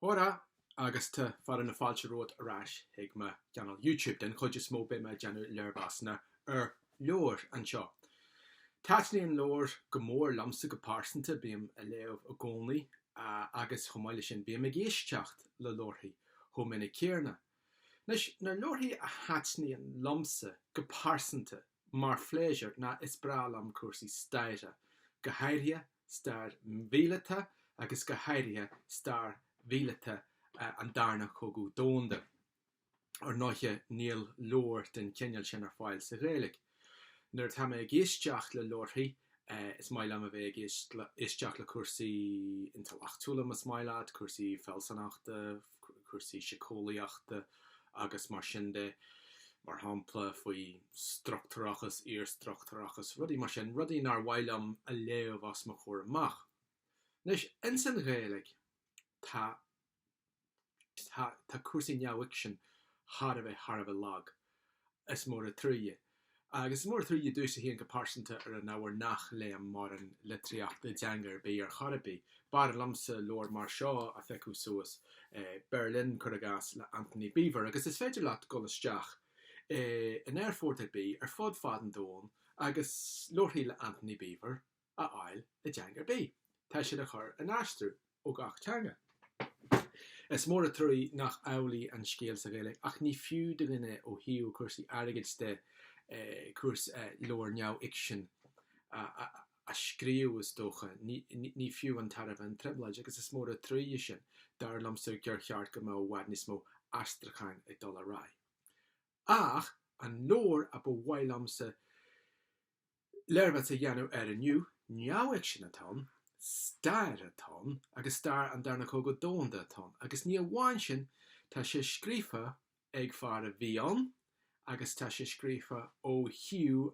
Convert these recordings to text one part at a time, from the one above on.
Hóra agus tá fearadh na fáilte romhat ar ais chuig mo channel YouTube. Den chuid is mó beidh mé ag déanamh léirmheasanna ar leabhair anseo. Taitníonn leabhair go mór liomsa go pearsanta, bím ag léamh i gcónaí agus chomh maith le sin bím ag éisteacht le leabharthaí chomh minic céarna. Anois, na leabharthaí a thaitníonn liomsa go pearsanta mar phléisiúr ná is breá liom cúrsaí staire, go háirithe, stair mhíleata agus go háirithe stair mhíleata an darna cogadh domhanda. Ar ndóighe níl leabhair den chineál sin ar fáil sa Ghaeilg. Nuair atá mé ag éisteacht le leabharthaí is maith liom a bheith ag éisteacht le cúrsaí intleachtúla más maith leat, cúrsaí fealsúnachta, cúrsaí síceolaíochta agus mar sin de, mar shampla faoi struchtúrachas, iarstruchtúrachas, rudaí mar sin, rudaí nár mhaith liom a léamh os mo chomhair amach. Anois, ins an Ghaeilg tá, tá, tá cúrsaí neamhfhicsin thar a bheith, thar a bheith lag. Is mór a' truaighe. Agus is mór a' truaighe domhsa féin go pearsanta ar an ábhar nach léam mórán litríochta i dteanga ar bith ar chor ar bith. B'fhearr liomsa leabhar mar seo a phiocadh suas, Berlin, cuir i gcás, le Antony Beevor, agus is féidir leat dul isteach i, in aerfort ar bith ar fud fad an domhan agus leabharthaí le Antony Beevor a. a fháil i dteanga ar bith, tá siad a chur in aistriú ó gach teanga. Is mór a truaí nach amhlaidh an scéal sa Ghaeilg, ach ní fiú do dhuine ó thaobh cúrsaí airgid de cúrs leabhar neamhfhicsin a scríobh, is dócha. Ní fiú an tairbhe an trioblóid, agus is mór a truaí é sin. Dar liomsa gur cheart go mbeadh i bhfad níos mó aistriucháin ag dul ar aghaidh. Ach an leabhar a ba mhaith liomsa léirmheas a dhéanamh air inniu, neamhfhicsean atá ann, stair atá ann agus stair an Darna Cogadh Domhanda atá ann agus ní amháin sin, tá sé scríofa ag fear a bhí ann agus tá sé scríofa ó thaobh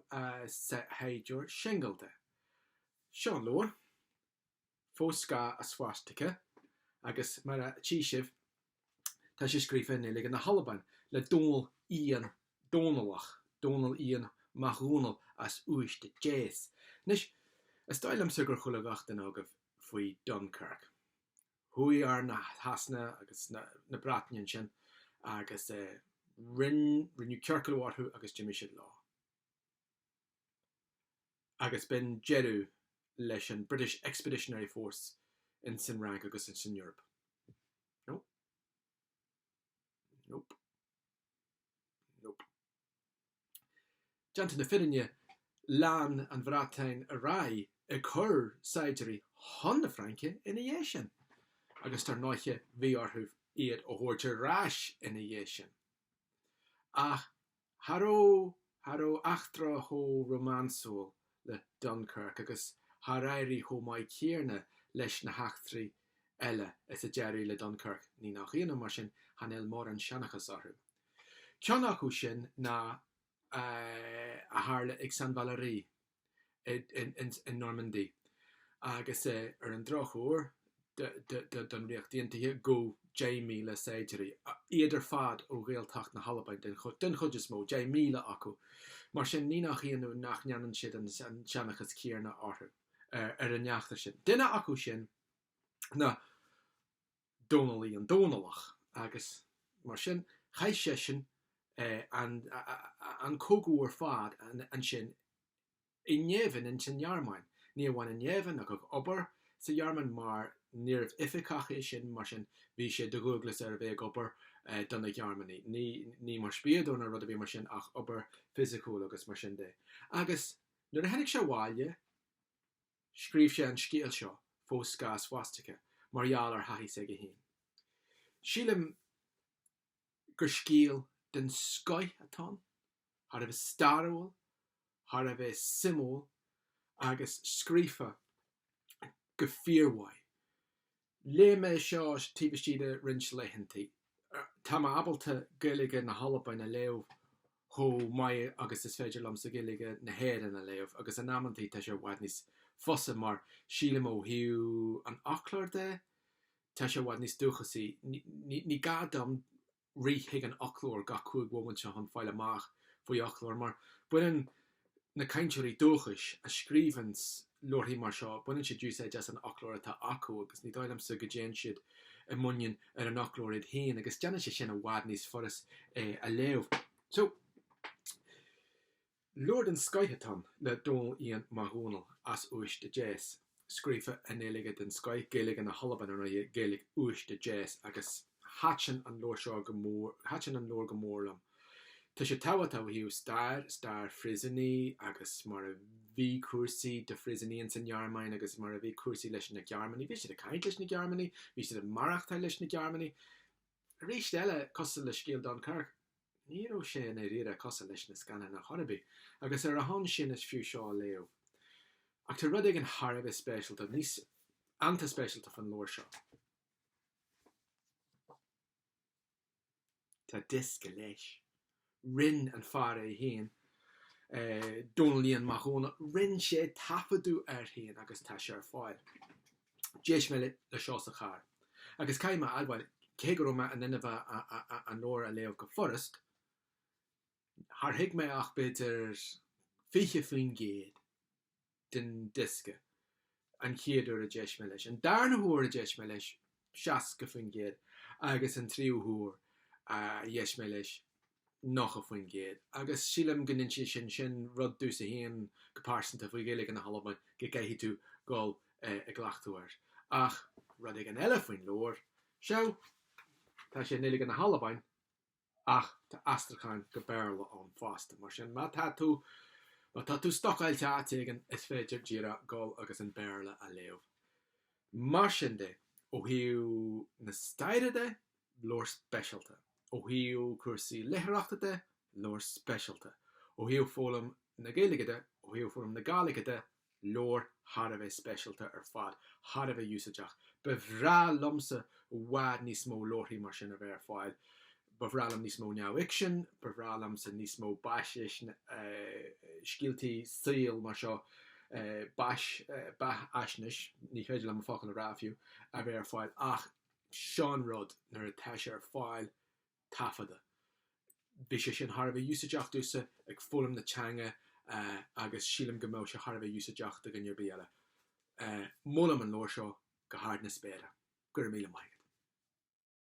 saighdiúir singil de. Seo an leabhar. Fo Sgàil a' Swastika agus mar a tchí sibh tá sé scríofa i nGaeilge na hAlban le Dónal Iain Dónallach, Dónal Iain Mac Dhónaill as Uibhist a Deas. Anois, is dóigh liomsa gur chuala gach duine agaibh faoi Dunkirk. Chuaigh arm na Shasana agus na Breataine ansin agus rinneadh ciorcal orthu agus d'imigh siad leo. agus b'in deireadh leis an British Expeditionary Force ins an Fhrainc agus ins an Eoraip. Nope. Nope. Nope. Déanta na fírinne, lean an Bhreatain ar aghaidh ag cur saighdiúirí chun na Fraince ina dhiaidh sin, agus dar ndóiche bhí orthu iad a thabhairt ar ais ina dhiaidh sin. Ach Cha raibh, cha raibh eachtra chomh rómánsúil le Dunkirk agus char éirigh chomh maith céarna leis na heachtraí eile is a d'éirigh le Dunkirk ní nach ionadh mar sin chan fheil mórán seanchas orthu. Ceann acu sin ná a tharla ag Saint Valery. i Normandie agus é, ar an drochuair don Ríocht Aontaithe, gabhadh deich míle saighdiúirí, iad ar fad ó Ghaeltacht na hAlban den chuid is mó, deich míle acu. Mar sin ní nach ionadh nach ndéanann siad an seanchas céanna orthu ar an eachtra sin. Duine acu sin ná. Dónal Iain Dómhnallach agus mar sin chaith seisean an cogadh ar fad ansin i ngéibheann ins an nGearmáin. Ní amháin i ngéibheann ach ag obair sa Ghearmáin mar níorbh oificeach é sin mar sin bhí sé de dhualgas air a bheith ag obair do na Gearmánaigh, ní mar spiadóir ná rud ar bith mar sin ach obair fisiciúil agus mar sin de. Agus nuair a tháinig sé abhaile, Scríobh sé an scéal seo, Fo Sgàil a' Swastika, mar gheall ar thaithí s'aige féin. Sílim gur scéal den scoith atá ann, thar a bheith stairiúil, thar a bheith suimiúil agus scríofa go fíormhaith. Léigh mé seo taobh istigh de roinnt laethantaí. Tá mé ábalta Gaeilge na hAlban a léamh chomh maith agus is féidir liomsa Gaeilge na hÉireann a léamh, agus in amanntaí tá sé i bhfad níos fusa mar sílim ó thaobh an fhoclóir de, tá sé i bhfad níos dúchasaí. Ní gá dom. rith chuig an fhoclóir gach cúig mhóimint seo chun fáil amach faoi fhoclóir mar baineann na cainteoirí dúchais a scríobhanns leabharthaí mar seo, baineann siad úsáid as an fhoclóir atá acu agus ní dóigh liomsa go dtéann siad i muinín ar an fhoclóir iad féin agus déanann sé sin i bhfad níos fuirist é a léamh. So, Leabhar den scoith atá ann le Dónal Iain MacDhòmhnaill as Uibhist a Deas, scríofa i nGaeilge den scoith, Gaeilge na hAlban, ar ndóighe, Gaeilg Uibhist a Deas, agus thaitin an leabhar seo go mór, thaitin an leabhar go mór liom. Tá sé tábhachtach ó thaobh stair, stair phríosúnaigh agus mar a bhí cúrsaí do phríosúnaigh ins an nGearmáin agus mar a bhí cúrsaí leis na Gearmánaigh. Bhí siad ag caint leis na Gearmánaigh, bhí siad ag maireachtáil leis na Gearmánaigh. Arís eile, cosúil le scéal Dunkirk. Ní raibh sé i ndáiríre cosúil leis na scannáin chor ar bith, agus ar a shon sin is fiú seo a léamh. Ach tá rud éigin thar a bheith speisialta, níos an-speisialta fán leabhar seo. Tá diosca leis. Rinn an fear é féin, Dónaillín Mac Dhónaill, rinn sé taifeadadh air féin agus tá sé ar fáil. D'éist mé leis seo sa charr agus caithfidh mé a admháil, cé go raibh mé in ann an leabhar a léamh go furast, char thuig mé ach b'fhéidir 20% den diosca an chéad uair a d'éist mé leis, an darna huair a d'éist mé leis, 60%, agus an tríú huair a d'éist mé leis, 90%, agus sílim go n-insíonn sin rud duit féin go pearsanta faoi Ghaeilge na hAlban, go gcaithfidh tú dul i gcleachtadh air. Ach rud éigin eile faoin leabhar seo, tá sé i nGaeilge na hAlban ach tá aistriúchán go Béarla ann fosta, mar sin má tá tú má tá tú stocáilte áit éigin is féidir díreach dul agus an Béarla a léamh. Mar sin de, ó thaobh na staire de, leabhar speisialta ó thaobh cúrsaí léitheoireachta de, leabhar speisialta ó thaobh foghlaim na Gaeilge de, ó thaobh foghlaim na Gàidhlige de, leabhar thar a bheith speisialta ar fad, thar a bheith úsáideach. Ba bhreá liomsa i bhfad níos mó leabharthaí mar sin a bheith ar fáil. Ba bhreá liom níos mó neamhfhicsin, ba bhreá liomsa níos mó scéaltaí saoil mar seo, beathaisnéis, ní féidir liom an focal a rá fiú, a bheith ar fáil ach, sin an rud nuair atá sé ar fáil taifeadadh. Bhí sé sin thar a bheith úsáideach domhsa ag foghlaim na teanga agus sílim go mbeadh sé thar a bheith úsáideach do dhuine ar bith eile. Molaim an leabhar seo go hard na spéire. Go raibh míle maith agat.